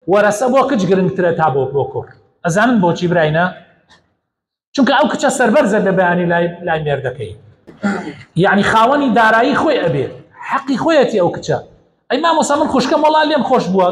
وەرەسە بۆ کچ گرنگترە تا بۆ بۆ کوڕ ئەزانن بۆچی براینە چونکە ئەو کچە سەربەرزە لە بەیانی لای لای مێردەکەی یعنی خاوەنی دارایی خۆی ئەبێ حەقی خۆیەتی ئەو کچە ئەی مامۆسا من خوشکەم وەڵا لێم خۆش بووە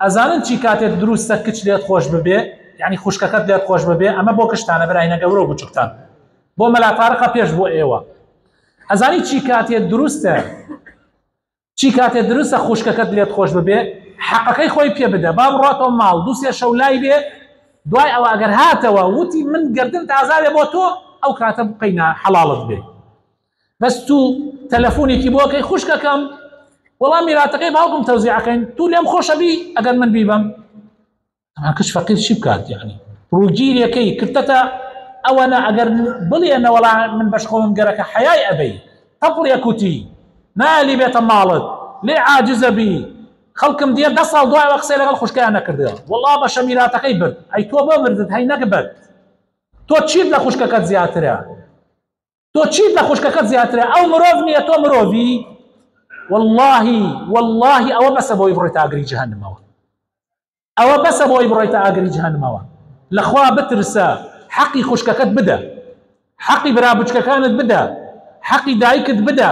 ئەزانن چی کاتێک دروستە کچ لێت خۆش ببێ یعنی خوشکەکەت لێت خۆش ببێ ئەمە بۆ کشتانە براینە گەورە و بچووکتان بۆ مەلاتارەقە پێش بۆ ئێوە ئەزانی چی کاتێ دروستە چی کاتێ دروستە خوشکەکەت لێت خۆش ببێ حەقەکەی خۆی پێ بدە با بڕاتەوە ماڵ دووسێ شەو لای بێ دوای ئەوە ئەگەر هاتەوە وتی من گردن تازاێ بۆ تۆ ئەو کاتە بقینا حەڵاڵت بێ بەس تو تەلەفۆنێکی بۆکەی خوشکەکەم وەڵام میراتەکەی باوکم تەوزیعەکەین تو لێم خۆشەبی ئەگەر من بیبم ئەها کچ فەقیر چی بکات یعنی ڕووگیرەکەی کردتە ئەوەنە ئەگەر بڵێ نەوەڵا من بەش خۆم گەرەکە حەیای ئەبەی تەپڵ یەکوتی نالی بێتە ماڵت لێ عاجزە بی خەڵکم دیە دە ساڵ دوایەوە قسەی لەگەڵ خوشکیان نەکردە وڵا بەشە میراتەکەی برد ئەی تۆ بۆ بردت هەی نەگبەت تۆ چیت لە خوشکەکەت زیاترە تۆ چیت لە خوشکەکەت زیاترە ئەو مرۆڤ نییە تۆ مرۆڤی واللهی واللهی ئەوە بەسە بۆی بڕێتە ئاگری جهنمەوە ئەوە بەسە بۆی بڕێتە ئاگری جهنمەوە لەخوا بترسە حەقی خوشکەکەت بدە حەقی برا بچکەکانت بدە حەقی دایکت بدە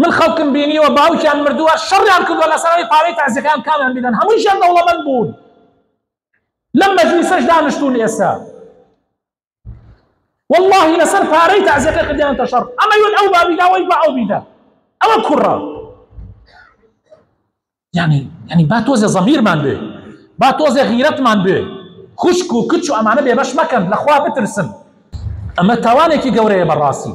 من خەڵکم بینیوە باوکیان مردووە شەڕیان کردووە لەسەر ئەوەی پارەی تەعزیەکان کامیان بدەن هەموویشیان دەوڵەمەند بوون لەم مەجلیسەش دانیشتوون ئێستا والله لەسەر پارەی تەعزیەکە کردیان تەشەڕ ئەمە یون ئەو بابیدا وەی بە ئەو بیدا ئەوە کوڕە یعنی یعنی با تۆزێ زەمیرمان بێ با تۆزێ غیرەتمان بێ خوشک و کچ و ئەمانە بێبەش مەکەن لەخوا بترسن ئەمە تاوانێکی گەورەیە بەڕاستی